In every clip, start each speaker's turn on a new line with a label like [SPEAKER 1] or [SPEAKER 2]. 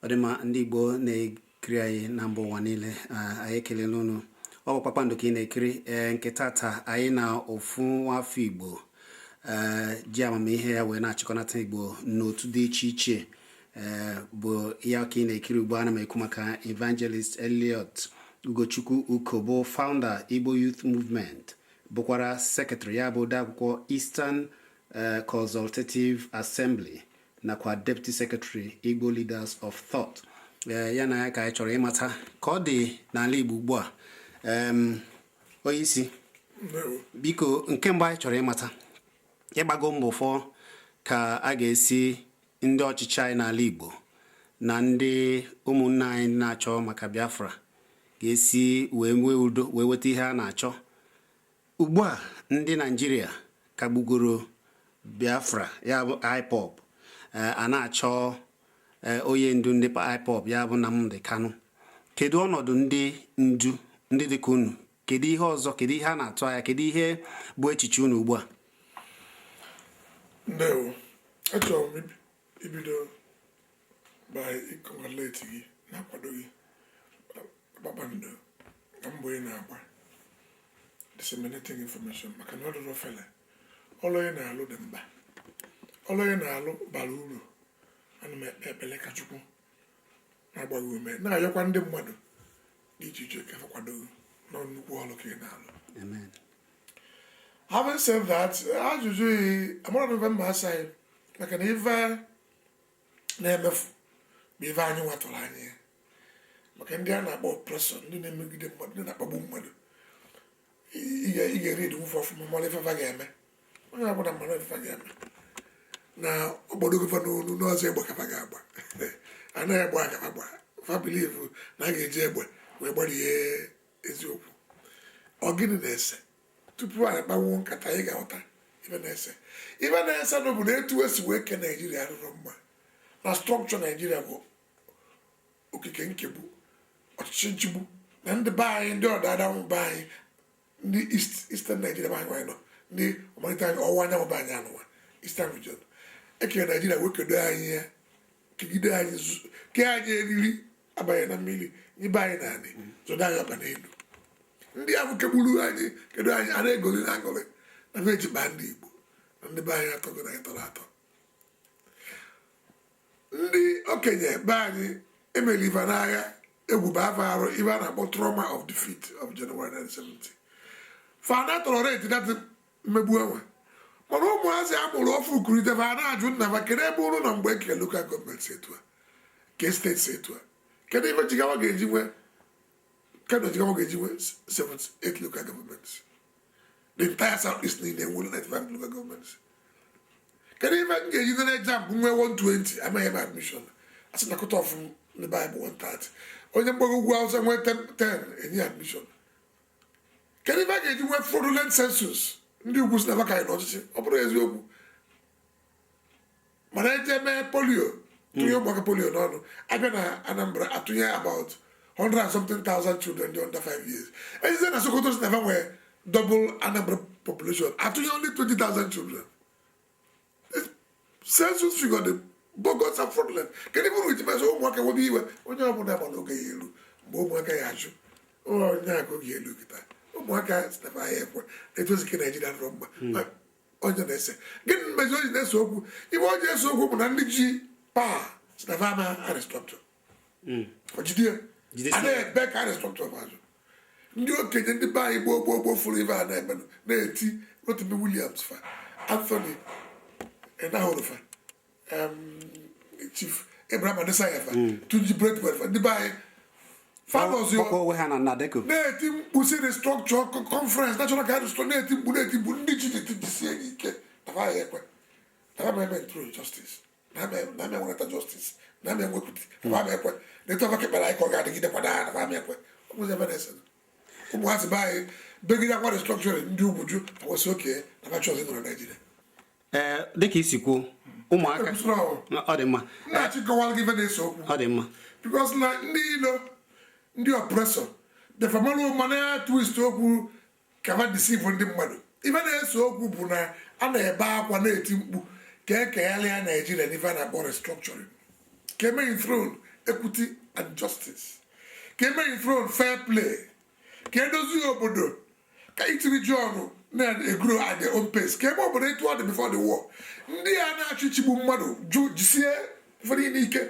[SPEAKER 1] ọ dị mma ndị Igbo na-ekiri anyị na mba ụwa niile anyị ekelela unu ọ bụ kpakpando ka ị na-ekiri ee nke tata anyị na ofu nwafọ Igbo ee ji amamihe ya wee na-achịkọnata Igbo n'otu dị iche iche ee bụ ya ka ị na-ekiri ugbu a ana m ekwu maka Evangelist Elliot Ugochukwu Uko bụ founder Igbo Youth Movement bụkwara Secretary ya bụ odeakwụkwọ Eastern eh, Consultative Assembly nakwa Deputy Secretary Igbo Leaders of Thought eh, ya na ya ka anyị chọrọ ịmata ka ọ dị n'ala Igbo ugbu a onye isi biko nke mbụ anyị chọrọ ịmata ị gbago mbọ ịfụ ka a ga-esi ndị ọchịchị anyị n'ala Igbo na ndị ụmụnna anyị na-achọ maka Biafra ga-esi wee nwee udo wee weta ihe a na-achọ ugbu a ndị Naijiria kagbugoro Biafra ya bụ IPOB eh, a na-achọ eh, onye ndu ndị IPOB ya bụ Nnamdi Kanu kedu ọnọdụ ndị ndu ndị dịka unu kedu ihe ọzọ kedu ihe a na-atụ anya kedu ihe bụ echiche unu ugbu
[SPEAKER 2] a ndewo achọrọ m ibido by ịcongratulate gị na-akwado gị kpakpando na mbọ ị na-agba disseminating information maka na ọ dịrọ ofele ọlụ ị na-alụ dị mkpa ọlụ ị na-alụ bara uru ana m ekpe ekpele ka chukwu na-agba gị ume na-ayọkwa ndị mmadụ dị iche iche ka a kwado na nnukwu ọlụ ka ị na-alụ having said that ajụjụ yi amara m ife m ga-asa gị maka na ife na-emefu bụ ife anyị nwa tụrụ anya ya maka ndị a na-akpọ oppressor ndị na-emegide mmadụ ndị na-akpagbu mmadụ ị ga-eread fa ọfụma mara ife fa ga-eme onye ọbụla mara ife fa ga-eme na ọgbọdọ gọvanọ onu n'ọzọ egbe ka fa ga-agba anaghị egbe ka fa ga-agba fa believe na a ga-eji egbe wee gbarie eziokwu ọ gịnị na-ese tupu anyị kpanwuo nkata anyị ga-aghọta ife na-ese ife na-ese bụ na etu e si wee kee naijiria adịrọ mma na structure naijiria bụ okike nkegbu ọchịchị nchịgbu na ndị be anyị ndị ọdịda anyanwụ be anyị ndị east eastern naijiria anyị nwa anyị nọ ndị ọmalite anyị ọwụwa anyanwụ bụ anyị anụwa eastern region ekere naijiria wee kedo anyị ya kegide anyị zu- kee anyị eriri abanye na mmiri nyebe anyị n'anị zọdo anyị ọkpa n'elu ndị ahụ kegburu anyị kedo anyị a na-egoli na-aṅụlị na fa ejibaa ndị igbo na ndị be anyị atọgo na anyị tọrọ atọ ndị okenye be anyị e meli fa n'agha egwu ba fa arụ ife a na-akpọ trauma of defeat of January 1970 fa na tolerate that mmegbu enwe mana ụmụazị a mụrụ ọfụụ kurite fa na-ajụ nna fa kedu ebe unu nọ mgbe e kele local government si etu a kee state si etu a kedu ife Jigawa ga-eji nwee kedu Jigawa ga-eji nwee 78 local government the entire south east niile enwere 95 local governments kedu ife m ga-eji nee JAMB nwee 120 ama enye m admission a sị na cut off ndị be anyị bụ 130 onye mgbago ugwu awụsa nwee 10 enye admission kedu ife a ga-eji nwee fraudulent census ndị ugwu sị na fa ka anyị n'ọchịchị ọ bụrọ eziokwu mana eje mee polio tụnye hmm. ụmụaka polio n'ọnụ abịa na Anambra atụnye about 100 and something thousand children dị under 5 years ejezie na Sokoto sị na fa nwe double Anambra population atụnye only 20,000 children census figure dị bogus and fraudulent kedu bụrụ iji mezi ụmụaka webe iwe onye ọbụla ma na oge ya-elu mgbe ụmụaka ya ajụ onye aka oge elu kịta ụmụaka sị na fa ya ekwe etu e si kee Naijiria adịrọ mma hmm. onye na-ese gịnị mezi onye na-ese okwu ife na-ese okwu bụ na ndị ji power sị na va ama restructure hmm. ojide a na-ebe ka e restructure va ajụ ndị okenye ndị be anyị gboo gboo gboo fụrụ ife a na-emenụ na-eti Rotimi Williams fa Anthony Enahoro fa chief Abraham Adesanya fa hmm. Tunji Braithwaite fa ndị be anyị na-eti mkpu sị restructure conference national conference na-eti mkpu na-eti mkpu ndị ji anyị jisie anyị ike na fa ya ekwe na fa ama enthrone justice na ama enweta justice na ama enwe equity na fa ama ekwe na etu fa kekpere anyị ka ọ ga-adịgide kwada na fa ama ekwe ọ bụzi ife na-ese ụmụazị be anyị begide akwa restructuring ndị ugwu jụ fa wee sị okay na fa achọzi nọrọ naijiria
[SPEAKER 1] ee dịka i si kwuo ụmụaka ọ dị mma
[SPEAKER 2] ọ dị mma
[SPEAKER 1] because na
[SPEAKER 2] ndị ilo ndị oppressor fa marụ ụma na twist okwu ka fa deceive ndị mmadụ ife na-ese okwu bụ na a na-ebe akwa na-eti mkpu ka e kegharịa naijiria n'ife a na-akpọ restructuring ka e mee enthrone equity and justice ka e mee enthrone fair play ka edozi obodo ka each region na-egrow at their own pace ka e mee obodo etu ọ dị before the war ndị a na-achọ ịchịgbu mmadụ jụ jisie ife niile ike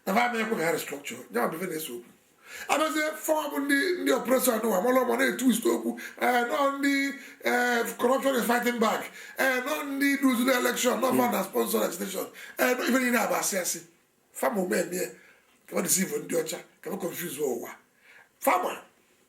[SPEAKER 2] na ha ama ekwe ka ha restructure ya bụ ife na-ese okwu abịazie fa nwa bụ ndị ndị oppressor anụwa malụ ụma na-etwist okwu ee n'ọ ndị ee corruption is fighting back ee n'ọ ndị luzu na election n'ọ fa na sponsor agitation ee nọ ife niile a bụ asị asị fa ma ụma eme ka ọ deceive ndị ọcha ka ọ confuse ụwa fa ma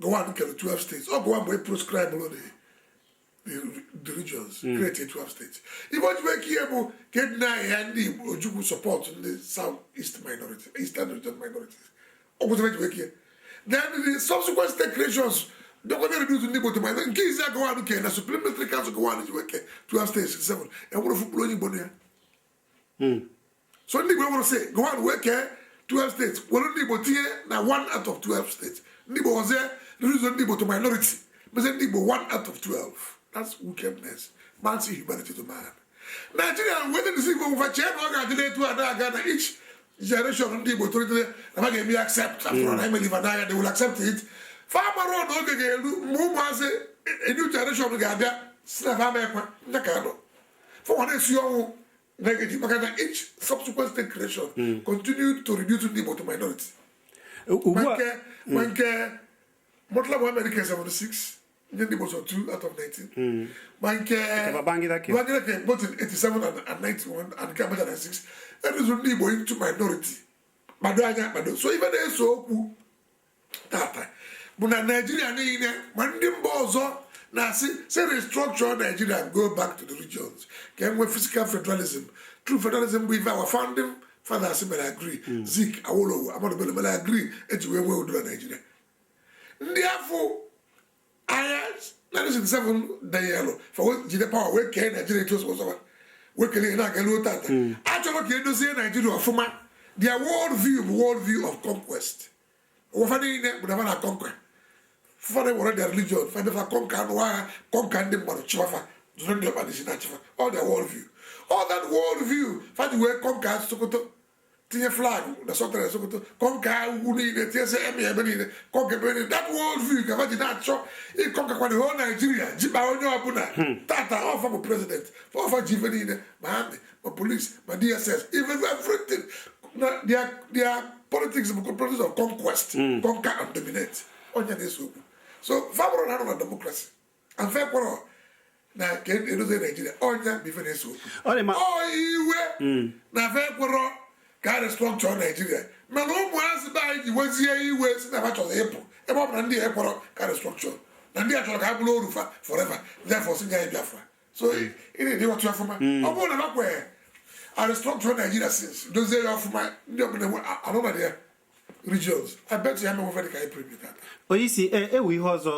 [SPEAKER 2] Gowon kere 12 states ọ Gowon bụ onye proscribelụ the regions hmm. create 12 states ife o ji wee kee ya bụ ka e deny-a ndị Igbo Ojukwu support ndị south east minority eastern region minorities ọ gwụtara e ji wee kee ya then the subsequent state creations dọkọta reduce ndị Igbo to minority nke izizi Gowon kere na supreme military council Gowon ji wee kee 12 states 7 enwerọ ofu mkpụrụ onye Igbo na ya hmm. so ndị Igbo wụrụ sị Gowon wee kee 12 steeti were ndị Igbo tinye na one out of 12 steeti ndị Igbo wezie reduce ndị Igbo to minority mezi ndị Igbo one out of 12 that's wickedness man's inhumanity to man Nigeria wee dị n'isi Igbo fa chee na ọ ga-adịla etu a na-aga na each generation ndị Igbo tolitere na ha ga-eme accept afọ na-emeli fa n'anya they will accept it fa amarọ na oge ga-eru mgbe ụmụazị a new generation ga-abịa sị na fa ama ekwe Nnamdi Kanu fa wee na-esi ọnwụ negative maka na each subsequent state creation hmm. continue to reduce ndị Igbo to minority ma nke Murtala Muhammed nke 76 nye ndị Igbo sọ 2 out of 19 ma nke Babangida nke both in 87 and 91 and nke Abacha 96 e reduce ndị Igbo into minority kpado anya kpado so ife na-ese okwu tata bụ na naijiria niile ma ndị mba ọzọ na-asị si restructure naijiria go back to the regions ka e nwee fiscal federalism true federalism bụ ife our founding fathers mere agree hmm. zik awolowo Ahmadu Bello mere agree e ji wee nwee udo na naijiria ndị afụ agha 1967 danyelụ fa wee jide pawa wee kee naijiria etu ọ sọ fa wee kele ihe na-aga ruo tata achọrọ ka e dozie naijiria ọfụma their world view bụ world view of conquest ụwa fa niile bụ na fa na conquer fa ga-ewere their religion fadefa conquer anụ agha conquer ndị mmadụ chịwa fa zọrọ ndị ọkpa n'isi na-achị fa ọ their world view ọ that world view fa ji wee conquer sokoto tinye flag na Sultan na sokoto conquer ugwu niile tinyesie emir ebe niile conquer ebe niile that world view ka fa ji na-achọ ị conquer-kwa the whole naijiria chịba onye ọbụla tata ọ fa bụ president ọ fa ji ife niile ma amị ma polis ma dss even everything na their their politics bụ politics of conquest conquer and dominate ọ nya na-ese okwu so fa bụrụ na ha nọ na democracy fa ekwerọ na ka e dozie naijiria ọ nya bụ ife na-ese Ọ dị ma- ọ iwe na fa ekwerọ ka a restructure naijiria mana ụmụazị be anyị ji wezie iwe sị na ha chọrọ ịpụ ebe ọ bụ na ndị a ekwerọ ka a restructure na ndị a chọrọ ka ha bụrụ oru fa forever ndị afụ sị nye anyị biafra so ị ị na-aghọta ọfụma ọ bụrụ na ha kwere a restructure naijiria since dozie ya ọfụma ndị ọbụla enwe anụmadị ya regions i bet ya emewe dị ka anyị preview that onye isi e, enwe
[SPEAKER 1] ihe ọzọ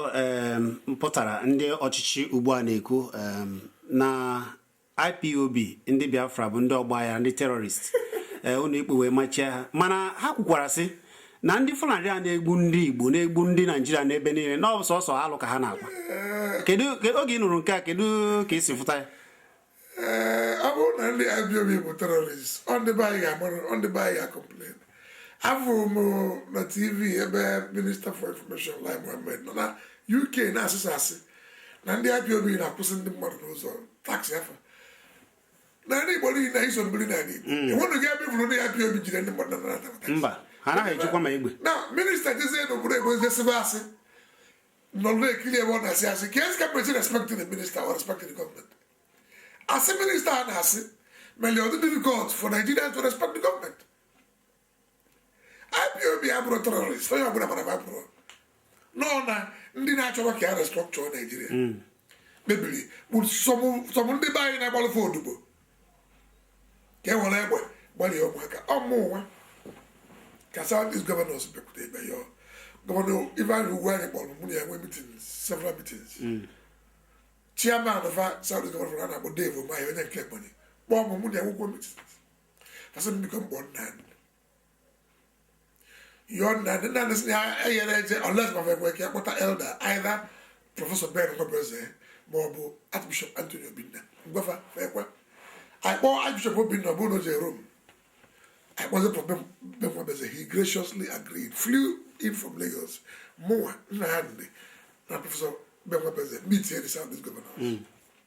[SPEAKER 1] mpụtara ndị ọchịchị ugbu a na-ekwu na ipob ndị biafra bụ ndị ọgbaghara ndị terrorist eh, ụlọ ikpe wee machie ha mana ha kwukwara sị na ndị fulani a na-egbu ndị igbo na-egbu ndị naijiria n'ebe niile na ọ bụ sọsọ alụ ka ha na-akpa eh. kedu oge ị nụrụ nke a kedu ka i si fụta ya
[SPEAKER 2] ee ọ bụrụ na ndị IPOB bụ terrorist ọ ndị be anyị ga-amarụ ọ ndị be anyị ga-complain afụrụ m na tv ebe minista for information Lai Mohammed nọ na UK na-asị asị na ndị IPOB na-akwụsị ndị mmadụ n'ụzọ tax fa na ndị Igbo niile i so m biri n'ala Igbo enwenụ gị ebe ị fụrụ ndị IPOB jide ndị mmadụ na-anata tax mba ha anaghị ejikwa
[SPEAKER 1] ma egbe na minista jezie
[SPEAKER 2] n'obodo oyibo jee sịbe asị nọrọ na-ekiri ebe ọ na-asị asị keezi ka m ga-esi respect the minister or respect the government asị minista a na-asị mere ọ dị difficult for Nigerians to respect the government IPOB abụrọ terrorist onye ọbụla mara ma bụrụ nọ na ndị na-achọrọ ka e restructure Nigeria mebiri bụ some ndị be anyị na-agbalụ fa odibo ka e were egbe gbarie ụmụaka ọ mụnwa ka southeast governors bịakwute ebe ya gọvanọ ifeanyi ugwuanyi kpọọ m mụ na ya nwee meeting several meetings chairman of southeast governor a na-akpọ dave umahi onye nke ebonyi kpọọ mụ mụ na ya nwekwuo meetings fa sị m biko m kpọọ nnamdi yọọ nnamdi na sị ha enyere eje unless ma fa ekwe ka a kpọta elder either prọfesọ ben nwabueze ma ọ bụ archbishop anthony obinna m gwa fa fa ekwe anyị kpọọ archbishop obinna ọ bụrụ na o jee rome anyị kpọzie prọfesọ ben nwabueze he graciously agreed flew in from lagos mụnwa nnamdi na prọfesọ ben nwabueze meetie the south east governor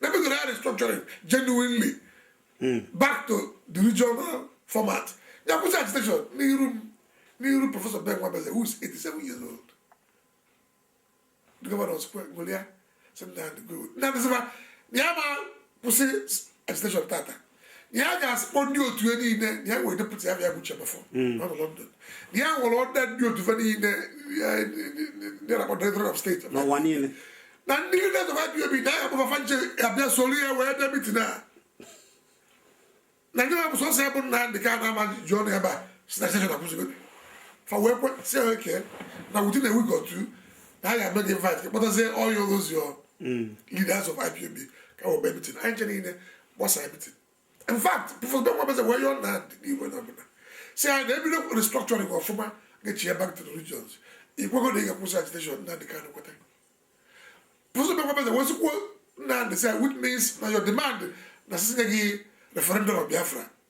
[SPEAKER 2] Na e bido restructuring genuinely hmm. back to the regional format. Ya akwụsị agitation n'iru m n'iru Professor Ben Nwabueze who is 87 years old. The governors ekwe golia sị Nnamdi good. Nnamdi sị ma ya ama akwụsị agitation tata. ya ga-esi kpọọ ndị otu ya niile ya nwee deputy afa ya bụ Uche Mefor hmm. na London ya nwere other ndị otu ya niile ndị na Directorate of State n'ụwa niile
[SPEAKER 1] na ndị
[SPEAKER 2] leaders of IPOB na ya kpọọ fa fa ncha abịa soro ya wee bịa mitin a na ndị mabụ sọsọ ya bụ Nnamdi Kanu ama eji ọnụ ebe a sị na agitation akwụsịgo fa wee kwe sị ya okay na within a week or two na a ga-eme gị invite kpọtazie all those your leaders of IPOB ka e wee bịa mitin anyị ncha niile gbasa everything in fact professor ben nwabueze wee yọọ n'iru onye ọbụla sị ya na ebido restructuring ọfụma ga-echigha back to the regions i kwego na ị ga-akwụsị agitation nnamdi kanu kweta professor ben nwabueze wee sịkwuo nnamdi sị which means na your demand na-asị sị nye gị referendum of biafra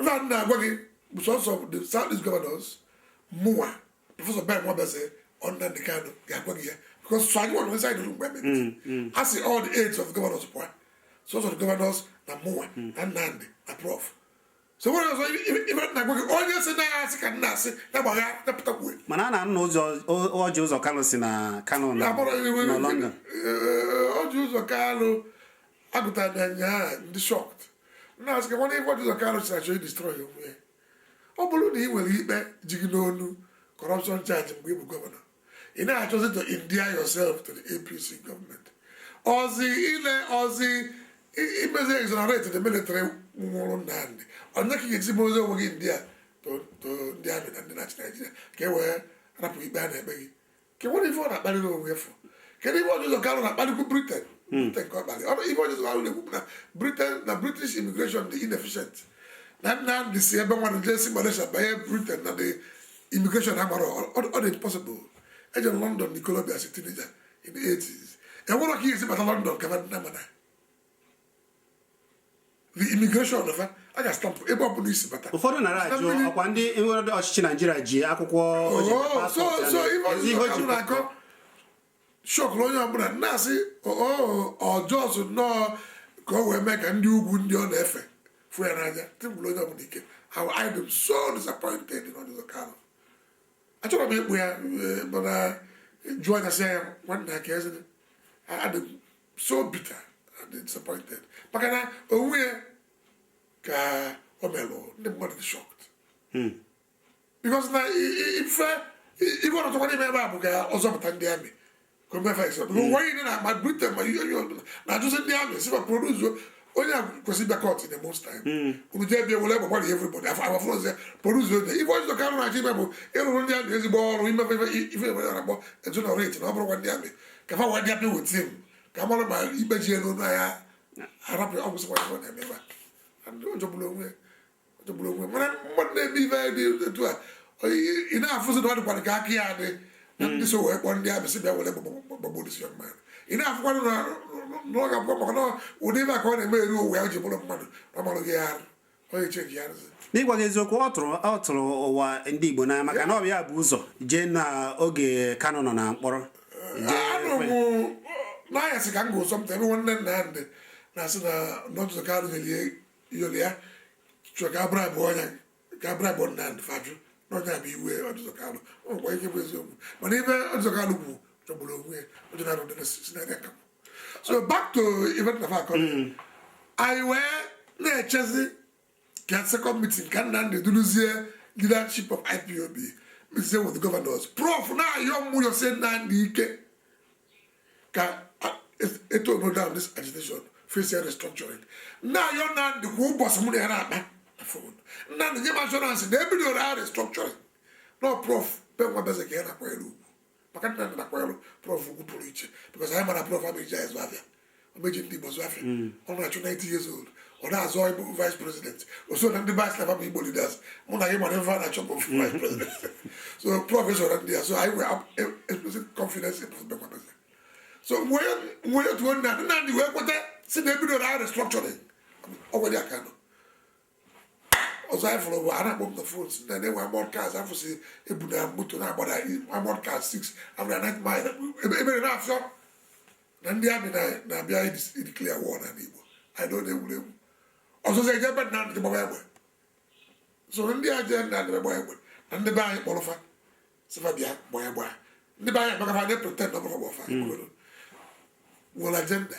[SPEAKER 2] ife a na-agwa gị bụ sọsọ the south east governors mụwa professor ben nwabueze ọ nnamdị kanu ga-agwa gị ya because sọ anyịnwa nọ inside the room a sị all the aides of the governors pụa sọsọ the governors na mụwa na nnamdị na prof so nwere ọzọ ife na-agwa gị onye sị na ya asị ka nna asị na gbagha napụta kwue mana a na-anụzi
[SPEAKER 1] ọjị ụzọ kalụ sị na kanu nọ london
[SPEAKER 2] ọjị ụzọ kalụ agụtara na nya ndị shocked na-asị gị nwana ọjị ụzọ kalụ si achọ ị destroy onwe ya ọ bụrụ na ị nwere ikpe ji gị n'onu corruption charge mgbe ị bụ governor ị na-achọzi to endear yourself to the apc government ọzi ile ọzi imezi exonerate the military nwụrụ nnamdị onye ka ị ga-esi mezi onwe gị endear to ndị amị na ndị na-achị naijiria ka e wee rapụ ikpe a na-ekpe gị kewara ife ọ na-akparịrị onwe ya fụ kedu ife ọjị ụzọ kalụ na-akparịkwu britain hmm. britain ka ọ kparịrị ife ọjị ụzọ kalụ na-ekwu na britain na british immigration dị inefficient na nnamdị si ebe nwanne jee si malaysia banye britain na the immigration amarọ ọ dị impossible ejere m london na ikolobia as a teenager in the 80s e nwerọ ka ị ya-esi bata london kama nna mana the immigration of a ga-stampụ ebe ọbụla i si bata ụfọdụ nara
[SPEAKER 1] ajụ ọkwa ndị nwere ọchịchị naijiria ji akwụkwọ oh, so so ife
[SPEAKER 2] ọjị ụzọ na-akọ shọkụrụ onye ọbụla na-asị ọ just nnọọ ka o wee mee ka ndị ugwu ndị ọ na-efe fụ ya n'anya tịbụrụ onye ọbụla ike how I am so disappointed in Ọjị Ụzọ Kalụ achọrọ m ịkpọ ya eh, mana jụọ anya sị ya nwanne ya ka eze adị m so bitter and disappointed maka na onwe ya ka o melụ ndị mmadụ dị shocked hmm. because na ife ife ọjị ụzọ kalụ na-eme ebe a bụ ka ọ zọpụta ndị amị ka o mefe ise bụ nwa ihe na-agba britain ma ihe onye ọbụla na-ajụzi ndị amị sị fa produce onye a kwesịrị ịbịa court in a month's time hmm. unu jee bịa were egbe gbara everybody afọ afọ fọrọzie produce onye ife ọjị ụzọ kalụ na-achọ ime bụ ịrụrụ ndị amị ezigbo ọrụ ime fa ife bekee na-akpọ exonerate na ọ bụrọkwa ndị amị ka fa wee dị happy with him ka a mara ma ikpe ji ya n'olu a ya-arapụ ọ gwụsịkwa ife ọ na-eme ebe a ọjọgburu onwe jọgburu onwe mana mmadụ na-eme ife dị etu a ị na-afụzi na ọ dịkwara ka aka ya dị na ndị so wee kpọọ ndị amị sị bịa were gbagbuo this young man ị na-afụkwanụ na ọ ga-abụkwa maka na ụdị ife a ka ọ na-eme eri o wee ya ji bụrụ mmadụ na ọmarụ gị ya arụ onye chenji ya arụzi n'ịgwa gị eziokwu ọ
[SPEAKER 1] tụrụ ọ tụrụ ụwa ndị Igbo n'anya maka na ọ bụ ya bu ụzọ jee na oge Kanu nọ na mkpọrọ anọ m
[SPEAKER 2] n'anyasị ka m gụ something ebe nwanne nnamdị na-asị na ọjị ụzọ kalụ nyeli iyoli ya chọrọ ka abụrụ abụọ ọnya ka abụrụ abụọ Nnamdị fa ajụ n'ọnya bụ ife Ọjị Ụzọ Kalụ ọ gwa ihe bụ eziokwu mana ife Ọjị Ụzọ Kalụ kwuru chọgburu onwe ya ọjọ na arụdị si na aka so back to ife m na-akọrọ anyị wee na-echezi ka second meeting ka Nnamdị duruzie leadership of IPOB meetie with governors prof na-ayọ mụ na-ayọ si Nnamdị ike ka e tone down this agitation facie restructuring na-ayọ Nnamdị kwa ụbọchị mụ na ya na-akpa na fon Nnamdị nye m assurance na ebidoro ha restructuring na prof Ben Nwabueze ka ya na-akwanyere ugwu maka Nnamdị na-akwanyere prof ugwu pụrụ iche because anyị mara prof ama eji anyị zụ afịa ọ ma eji ndị Igbo zụ afịa hmm. ọ na-achụ 90 years old ọ na-azọ ịbụ vice president o so na ndị fa si na bụ Igbo leaders mụ na gị mara ife fa na-achọ bụ vice president so prof esoro na ndị ya so anyị wee e, expressie confidence in Prof Ben Nwabueze so nwee otu Nnamdị wee kweta si na ebidoro agha restructuring ọ gwara ya ka nọ ọzọ anyị fụrụ bụ a na-akpọ m na fon si na na-enwe armoured cars a fụsị ebu na moto na-agbada armoured cars 6 a fụ na Ninth Mile ebere na-afịọ na ndị army na-abịa ideclare war n'anị Igbo anyị nọ na-egwuregwu ọzọzi e jee be Nnamdị gbaba egbe so ndị a jee be Nnamdị gbaba egbe na ndị be anyị kpọrọ fa sị fa bịa gbaa egbe a ndị be anyị maka fa na-epretend ọbụla gbafa nwere agenda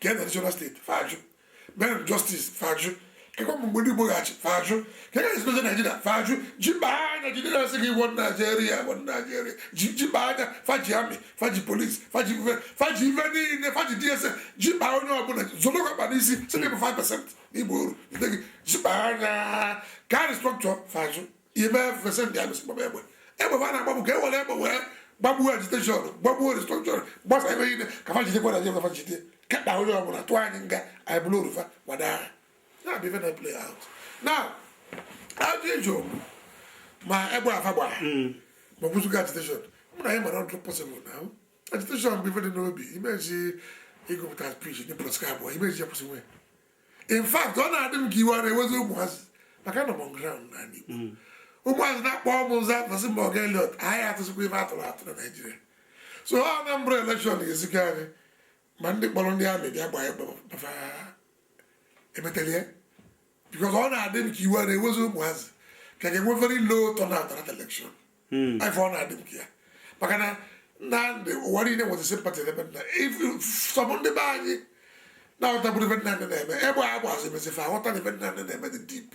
[SPEAKER 2] kee additional state fa ajụ mee justice fa ajụ kekwa mgbe ndị Igbo ga-achị fa ajụ kekwa ezinụlọ Naijiria fa ajụ ji mba anya jide na-asị gị one Naijiria one Naijiria ji mba anya fa ji army fa ji police fa ji ife fa ji ife niile fa ji DSS ji mba onye ọbụla zọlọkwa ọkpa n'isi sị na ị bụ 5 percent na ị bụ oru jide gị ji mba anya ka e restructure fa ajụ ime fa esendie army si gbaba egbe egbe fa na-agba bụ ka e were egbe wee gbagbuo agitation gbagbuo restructure gbasa ebe niile ka fa jidekwa na jebe fa jide kekpa onye ọbụla tụọ anyị nga anyị bụrụ oru fa gbada agha na-abịa ife na play out na ajụjụ ma egbe a fa gbara ma o gbuzigo agitation mụ na gị mara ọ dịrọ possible na agitation bụ ife dị n'obi imezi ịgụpụta speech ndị proscribe imezi ya kwụsị nwee in fact ọ na-adị m ka iwe ọ na-ewezi ụmụazị maka nọ m ground na Igbo mm. ụmụazị na-akpọ mụ m zaa fa asị mba ọga Elliot anyị atụsịkwa ife atụrụ atụ na Naịjirịa so na ọ bụ election ga-ezikọ anyị ma ndị kpọrọ ndị army bịa gbaa egbe fa emetela ya because ọ na-adị m ka iwe ọ na-ewezi ụmụazị ka a ga-enwe very low turnout na election hmm. ife ọ na-adị m ka ya maka na na ndị ụwa niile nwere sympathy n'ebe nna sọbụ ndị be anyị na-aghọtabụrụ ife nna na-eme egbe a gbazi mezie fa aghọta na ife Nnamdi na-eme dị deep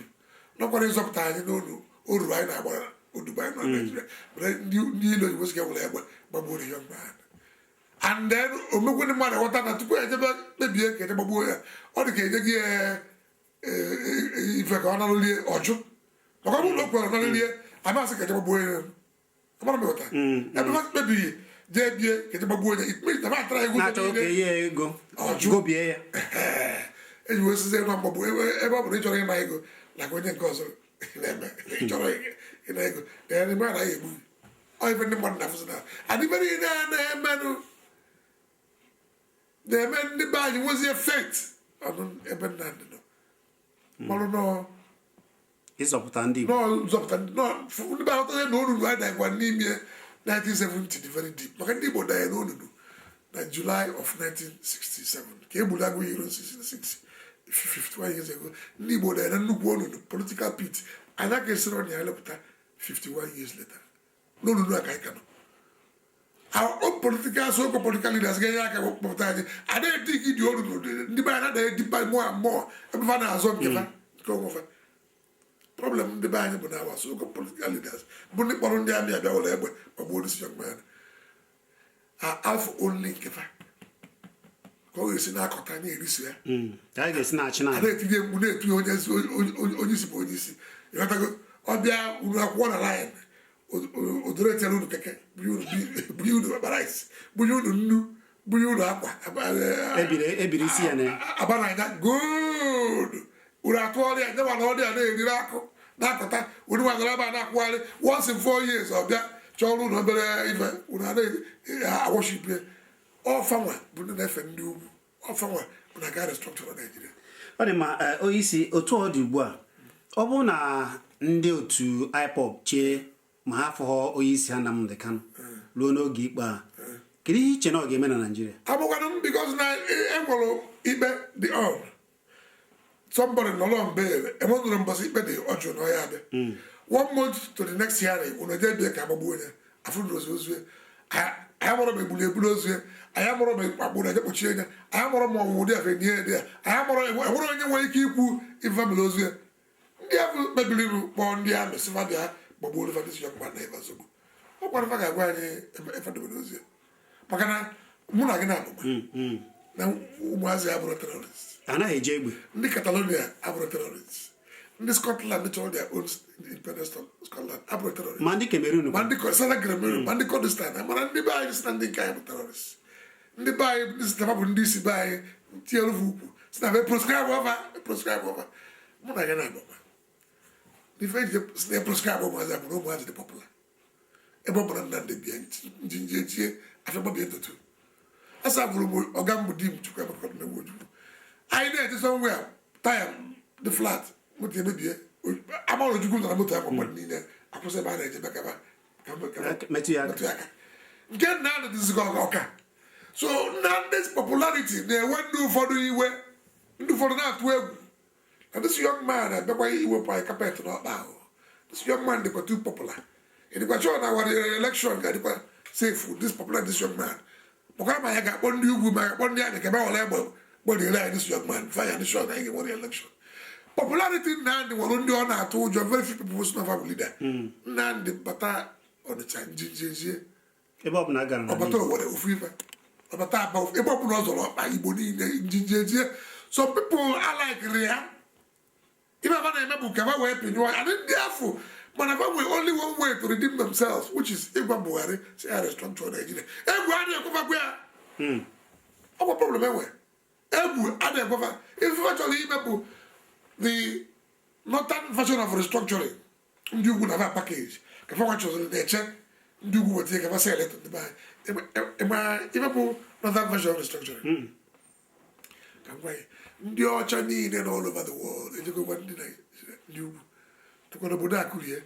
[SPEAKER 2] nọkwara ịzọpụta anyị n'olu oru anyị na-agbara odibo anyị nọ hmm. Naịjirịa mere ndị ilo Igbo sị ka e were egbe gbagbuo ihe mgbe ha and then o mego ndị mmadụ ghọta na tupu ejebe kpebie ka eje gbagbuo ya ọ dị ka enye gị eh, ife ka ọ nara lie ọ jụ maka ọ bụrụ na o kwere nara lie a ma-asị ka e jee gbagbuo ya ọgbara m ghọta ebe ha kpebiri jee be ya ka e jee gbagbuo onye ikpe na batara ego na-achọ oge ihe ego ọ jụ. ọ bụ ya eji wee sizie na mgbagbu ebe ebe ọ bụrụ ịchọrọ ịna ego na ka onye nke ọzọ na-eme ịchọrọ ịna ego na ya n'ime anaghị egbu gị. ọ ife ndị mmadụ na-afụzi na adịbere ihe na-emenụ na-eme ndị be anyị nwezie faith n'ebe Nnamdi nọ manụ na
[SPEAKER 1] ọ ịzọpụta ndị Igbo na ọ nzọpụta ndị nọ fụ-
[SPEAKER 2] ndị be ahụtazie na onunu anyị danyekwa n'ime 1970 dị very deep maka ndị Igbo danye n'onunu na July of 1967 ka e gburu Aguiyi-Ironsi 66 51 years ago ndị Igbo danye na nnukwu onunu political pit anyị aka esirọ na ya lịpụta 51 years later n'onunu a ka anyị ka nọ our political so called political leaders ga-enye aka kpọpụta anyị adịghị dị gị dị olu n'odede ndị be anyị na-edeepen more and more ebe fa na-azọ nke fa nke onwe fa problem ndị be anyị bụ na our so called political leaders bụ ndị kpọrọ ndị army abịa were egbe ma gbuo this young man afọ olili nke fa ka ọ ga-esi na-akọta na-eriso ya hmm. ka anyị ga-esi na-achị
[SPEAKER 1] na na-etinye mgbu na-etinye
[SPEAKER 2] onye isi onye isi bụ onye isi ịghọtago ọ bịa unu akwụkọ na line odoro echere unu keke bunye unu bag rice bunye unu nnu bunye unu akwa ebiri
[SPEAKER 1] isi ya na ya abananya
[SPEAKER 2] good unu akụ ọrịa nye mana ọ ya na-eriri akụ na-akụta unu nwagara ebe a na-akwụgharị once in four years ọ bịa chọọrọ unu obere ife unu na-aworship ya ọ fanwa bụ ndị na-efe ndị ugwu ọ fanwa bụ na ga restructure Naịjirịa ọ dị mma
[SPEAKER 1] eh, onye isi otu ọ dị ugbu a ọ bụrụ na ndị otu IPOB chee ma ha afụghọ onye isi ha Nnamdi Kanu hmm. ruo n'oge ikpe a hmm. kedu ihe i che na ọ ga-eme na Naịjirịa abụkwanụ m because na
[SPEAKER 2] enwere ikpe dị on somebody nọrọ on bail enwedụrọ mbọsị ikpe dị ọ jụrụ na ọ ya-adị hmm. one month to the next hearing unu eje be ya ka agbagbuo onye afụdụrọzi ozu anyị amarọ ma egbulu ya ebulu ozu ya anyị amarọ ma akpụ ya eje kpọchie anyị anyị amarọ ma ọnwụ dị afe nye dị ya anyị amarọ enwerọ onye nwere ike ikwu ife melu ozu ya ndị ahụ kpebiri iru kpọọ ndị amị sị fa bịa gbagbuo olifa ndị siyọkpa na ebe nsogbu ọ gwara fa ga-agwa anyị ebe fa dobere ozu ya. maka na mụ na gị naabọ ma na ụmụazị a abụrọ terrorist anaghị eji
[SPEAKER 1] egbe ndị
[SPEAKER 2] Catalonia abụrọ terrorist ndị Scotland chọrọ their own independence of Scotland abụrọ terrorist ma ndị Cameroon ma ndị
[SPEAKER 1] Ko- Southern
[SPEAKER 2] Cameroon, ma ndị Kurdistan mana ndị be anyị sị na ndị nke anyị bụ terrorist ndị be anyị ndị sị na fa bụ ndị isi be anyị tinyere bụ ukwu sị na ba e proscribe ọ fa proscribe ọ fa mụ na gị naabọ makwa n'ife eji sị na proscribe ụmụazị a bụ na ụmụazị dị popular ebe ọ bụla Nnamdị bịa njinji ejie afọ gbabie ntutu asa bụrụ m ọga m bụ Dim Chukwuemeka Odumegwu Ojukwu anyị na-eje somewhere a taya dị flat moto emebie a mara Ojukwu nọ na moto ya kpọkpọrọ niile akwụsị ebe a na-eje bụ ka ba
[SPEAKER 1] metụ ya aka
[SPEAKER 2] nke Nnamdị dịzigo ọka so Nnamdị's popularity na-ewe ndị ụfọdụ iwe ndị ụfọdụ na-atụ egwu na this young man abịakwa iwepụ anyị carpet n'ọkpa o this young man dịkwa too popular ị dịkwa sure na our election ga-adịkwa safe this popular this young man maka ma ya ga-akpọ ndị ugwu ma ga-akpọ ndị amị ka ba were egbe gbọdịre anyị this young man fire this shot anyị ga-enwere election popularity Nnamdị nwere ndị ọ na-atụ ụjọ very few people sị na ọ fa bụ leader Nnamdị bata Ọnịcha njinji ejie ebe ọ
[SPEAKER 1] bụla gara na ọ bata Owerri ofu
[SPEAKER 2] ife ọ bata Aba ofu ebe ọbụla ọ zọrọ ọkpa Igbo niile njinji ejie some people alaikịrọ ya ife ba na-eme bụ ka ba wee pịnyụọ ya ndị afụ ma na ba nwee only one way to redeem themselves which is ịgwa Buhari sị ya restructure Nigeria egwu a na-ekwe fa gwa ya hmm. ọ bụ problem e nwe egwu a na-ekwe fa ife fa chọrọ ime bụ the northern version of restructuring ndị ugwu na ba package ka fa nwachọziri na-eche ndị ugwu weta ka fa sell it to ndị be anyị ị ma ife bụ northern version of restructuring hmm. ndị ọcha niile na all over the world ejego gwa ndị ndị ugwu tụkwara obodo akụrie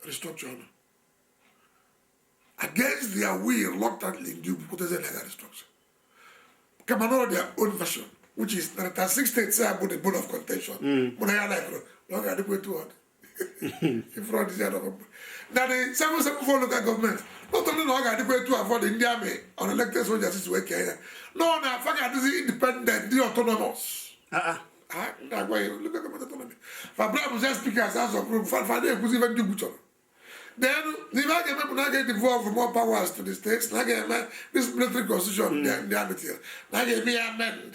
[SPEAKER 2] restructure ọnụ against their will reluctantly ndị ugwu kwetazie na ga restructure kama na ọ their own version which is na 36 states a bụ the bone of contention mụ na gị alaikịrọ na ọ ga-adịkwa etu ọ dị ifuru ọdịzi adọkọ mgbe na the seven seven four local government not only na ọ ga-adịkwa etu afụ ọ dị ndị amị unelected soldiers si wee kee ya no na fa ga-adịzi independent dị autonomous na-akpọ ya local government autonomy fabra bụzi speakers House of Rep fa fa na-ekwuzi ife ndị ugwu chọrọ then n'ife a ga-eme bụ na a ga-edevolve more powers to the states na a ga-eme this military constitution ndị amị tinyere na a ga-eme ya amend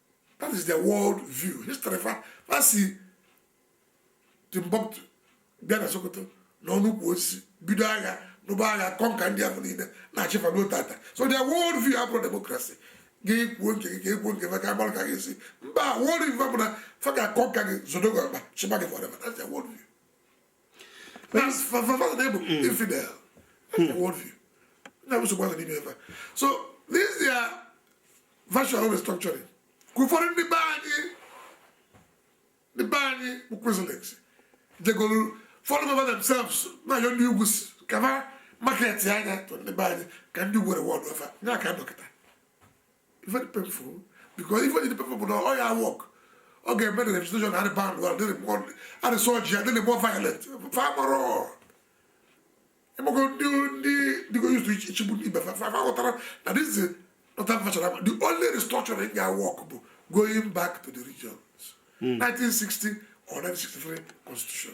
[SPEAKER 2] that is their world view history fa fa si Timbuktu bịa na Sokoto nọ n'ukwu osisi bido agha nụba agha conquer ndị ahụ niile na-achị fa ruo taata so their world view abụrọ democracy gị kwuo nke gị ka e kwuo nke ka agbara ka gị si mba world view bụ na fa ga-aconquer gị zọdo gị ọkpa chịba gị forever that's their world view so this is their version of restructuring ka ụfọdụ ndị be anyị ndị be anyị bụ Christians jegoro fall over themselves na-ayọ ndị ugwu ka fa marketa ya to ndị be anyị ka ndị ugwu rewardọ fa ya ka dọkịta very painful because even the painful bụ na ọ ya-awork ọ ga-eme na agitation adị band well adị more adị surgery adị more violent fa gbara ịgbakọ ndị ndị dịgo used to ịchịgbu ndị ibe fa fa aghọtarọ na this is not that much the only restructuring ya-awork bụ going back to the regions 1960 or 1963 constitution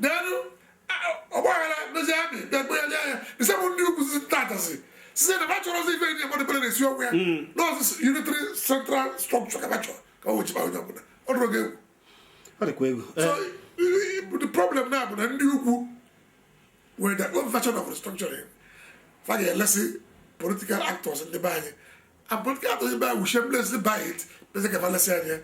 [SPEAKER 2] then ọgbaghara dozie amị bịakpe ya nye ya ise bụ ndị ugwu si ntatasi site na ba achọrọ ọzọ ife ndị mmadụ bere na-esi ọgwụ ya na ọ sọ unitary central structure ka ba chọ ka e we chịba onye ọbụla ọ dụrụ gị egwu ọ dịkwa egwu so i- i- the problem now bụ na ndị ugwu nwere their own version of restructuring fa ga-elesi political actors ndị be anyị and political actors be anyị will shamelessly buy it shamelessly gaba lesị anyị ya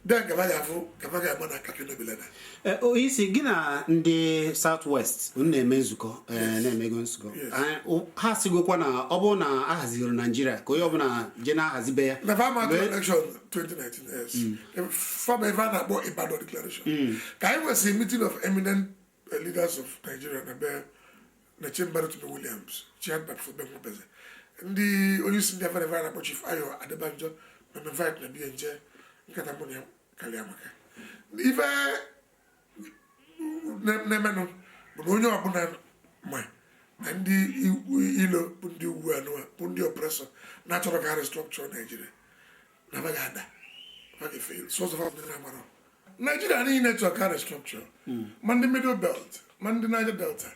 [SPEAKER 2] then gaba ya afụ gaba ga-agba na kaki
[SPEAKER 1] nobilena eh, onye isi gị na ndị south west na-eme nzukọ eh, na-emego nzukọ eh, ha sigokwa na ọ bụrụ na a hazirọ naijiria ka onye ọbụla je na-ahazi be ya na fa ama
[SPEAKER 2] election 2019 fa mee ife a na-akpọ ibadan declaration mm. ka anyị nwesịrị meeting of eminent the leaders of Nigeria na be na chamber Rotimi Williams chaired by Prof Ben Nwabueze ndị onye isi ndị Afenifere a na-akpọ Chief Ayo Adebanjo invite m na be ya m jee nkata mụ na ya karịa maka ife na-emenụ bụ na onye ọbụla ma na ndị ilo bụ ndị ugwu anụwa bụ ndị oppressor na achọrọ ka a restructure Naijiria na ba ga-ada ba ga-afail sọsọ fa ndị na-agbara naijiria niile chọrọ ka a restructure hmm. ma ndị middle belt ma ndị niger delta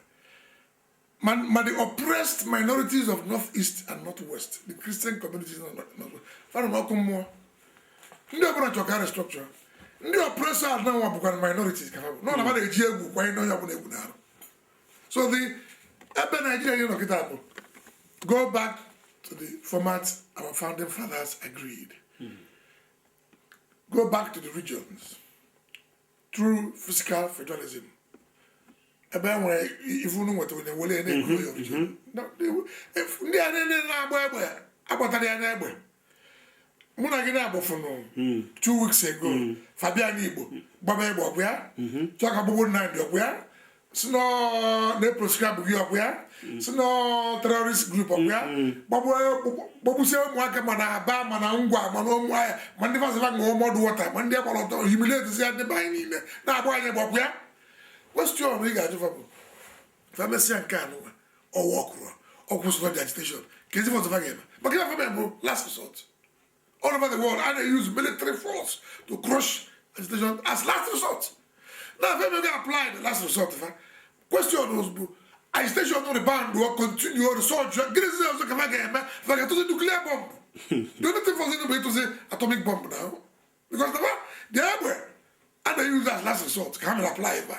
[SPEAKER 2] ma ma the oppressed minorities of north east and north west the christian communities na north west fa nọ n'ọkụ mmụọ ndị ọbụla chọrọ ka a restructure ndị oppressor a nwa bụkwara minorities ka ha bụ nọ na ba na-eji egwu kwanye onye ọbụla egwu n'arụ so the ebe Nigeria ya-anọ kịta bụ go back to the format our founding fathers agreed hmm. go back to the regions true fiscal federalism ebe e nwere ife unu nweta onye were na-ekwu ndị a na-agba egbe agbatara ya n'egbe mụ na gị na-agbụfụnụ hmm. two weeks ago hmm. fa bịa n'Igbo gbaba egbe ọgwụ ya hmm. chọọ ka a gbagbuo Nnamdi ọgwụ ya sị na ọ na-eproscribe gị ọgwụ ya sị na ọ terrorist group ọgwụ ya gbagbusie ụmụaka ma na Aba ma na Ngwa ma na Ụmụahịa ma ndị fa sị fa ṅụọ mud water ma ndị a gbara ọtọ humiliate ya ndị be anyị niile na-agba anyị egbe ọgwụ ya question ị ga-ajụ fa bụ fa mesịa nke a nụwa ọwa ọkụrụ ọ kwụsịkwa the agitation kezi ife ọzọ fa ga-eme maka na ife fa mee bụ last resort all over the world a na-use military force to crush agitation as last resort now fa emego apply the last resort fa question ozugbo agitation rebound or continue or surge gịnị zi ọzọ ka fa ga-eme fa ga-atụzi nuclear bomb the only thing fọrọ bụ ịtụzi atomic bomb now because the egbe a na-use as last resort ka ha mere apply fa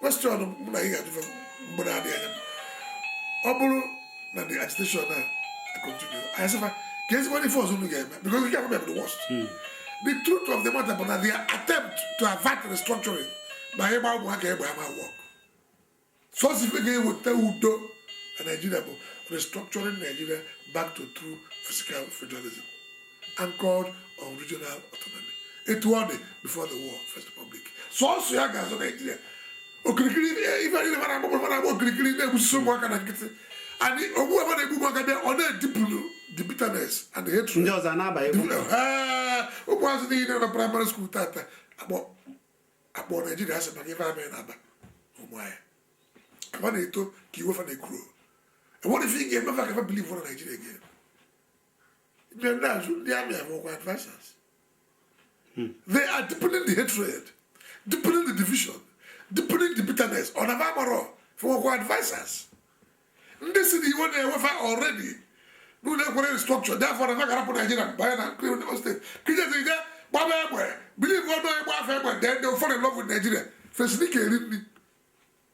[SPEAKER 2] question mụ na gị ga-ajụ fa mgbe na-adịghị anya ọ bụrụ na the agitation na continue anyị sị fa kezikwanụ ife ọzọ unu ga-eme because nke a kwa bụ the worst hmm. the truth of the matter bụ na their attempt to avert restructuring by ịgba ụmụaka egbe ama work sọsọ ife ga-eweta udo na Nigeria bụ restructuring Nigeria back to true fiscal federalism anchored on regional autonomy etu ọ dị before the war first republic sọsọ ya ga-azọ Nigeria okirikiri ife niile mara agbụgbọ mara agbụ okirikiri na-egbusisi ụmụaka na nkịtị and ogbu ebe na-egbu ụmụaka bịa ọ na-edeepen the bitterness and the hatred ndị ọzọ na-abaghị ụmụazị niile na primary school tata akpọ Nigeria asị maka ife army na Aba Ụmụahịa fa na-eto ka iwe fa na-ekuru enwerọ ife ị ga-eme fa ka fa believe na Nigeria again ndị ndị azụ ndị army abụkwa advisers they are deepening the hatred deepening the division deepening the bitterness ọ na agbara fụwakwa advisers ndị sị na iwe na-ewe fa already na unu ekwerọ restructure therefore na fa ga-arapụ Nigeria banye na nkiri Lagos state kijezija gbaba egbe believe ọdụ a gbaa fa egbe then they'll fall in love with Nigeria fesiri ka eri nri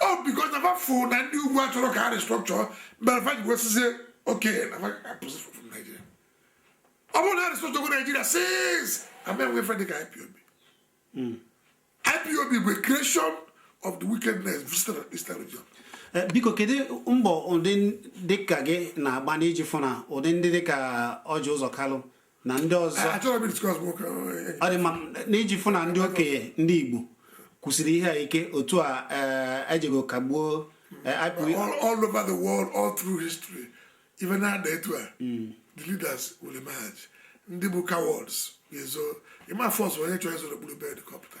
[SPEAKER 2] ọ because na fa fụ na ndị ugwu achọrọ ka a restructure mere fa ji wee sịzie okay na fa apụsị from Nigeria ọ bụrụ na a restructurego Nigeria since ama enwe ife dịka IPOB hmm. IPOB bụ creation of the wickedness visited eastern region Eh, biko kedu
[SPEAKER 1] mbọ ụdị dịka gị na-agba n'iji fụ na ụdị ndị dịka Ọjị Ụzọ Kalụ na ndị ọzọ ọ dị mma n'iji fụ na ndị okenye ndị Igbo kwusiri ihe a ike otu a ejego e kagbuo e, all
[SPEAKER 2] over the world all through history ife na-adị etu a hmm. the leaders will emerge ndị bụ cowards ga-ezo ị ma force onye chọrọ izo n'okpuru bed ka ọ pụta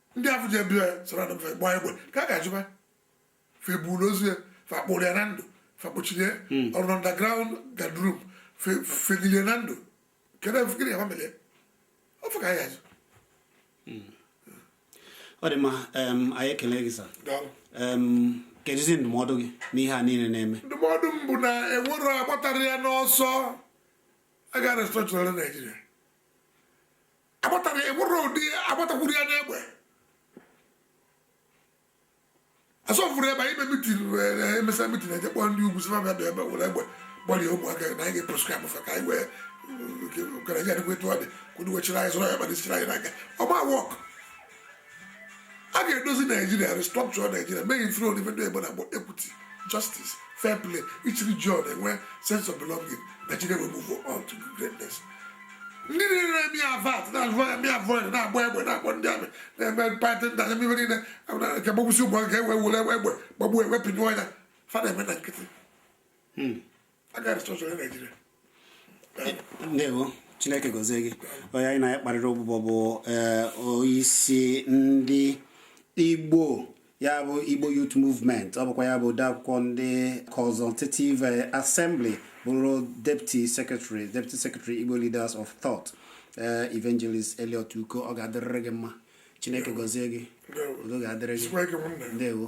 [SPEAKER 2] ndị afụ je be ya sara na mfe gbaa egbe ka a ga-ajụba fa eburu ozu ya fa kpụrụ ya na ndụ fa kpọchiri ya ọrụ na underground guardroom fa jili ya na ndụ kedu efu gịnị ya ma mere ya ọ fa ka a ya-ajụ
[SPEAKER 1] ọ dị mma em, anyị ekele gị sa daalụ Em, kedụzi ndụmọdụ gị n'ihe a niile na-eme ndụmọdụ m bụ na
[SPEAKER 2] enwerọ agbatara ya n'ọsọ a ga restructure naijiria agbatara enwerọ ụdị agbatakwuru ya n'egbe asọfuru ebe anyị me mitin emesịa mitin e je kpọọ ndị ugwu sị fa bịa ebe were egbe gbalie ụmụaka na anyị ga-eproscribe fa ka anyị wee ka naijiria dịkwa etu ọ dị kwudu wechiri anyị zụrụ ya kpara isi chiri anyị n'aka ọ ma work a ga-edozi naijiria restructure naijiria mee ifere odife ndị igbo na-akpọ equity justice fair play each region enwee sense of belonging naijiria will move on to greatness ndị niile na-eme avert na-eme avoid na-agba egbe na-akpọ ndị amị na-eme python dance niile nke gbagbusi ụgbọ nke ewe were egbe gbagbuo ewepịnyụọ ya fa na-eme na nkịtị
[SPEAKER 1] ndewo chineke gozie gị onye anyị na-akparịrị ụbụbọ bụ eh, onyeisi ndị igbo ya bụ igbo youth movement ọ bụkwa ya bụ odeakwụkwọ ndị consultative eh, assembly bụrụ deputy secretary igbo leaders of thought eh, evangelist Elliot Uko ọ ga-adịrịrị gị mma chineke gozie gị udo ga-adịrị gị ndewo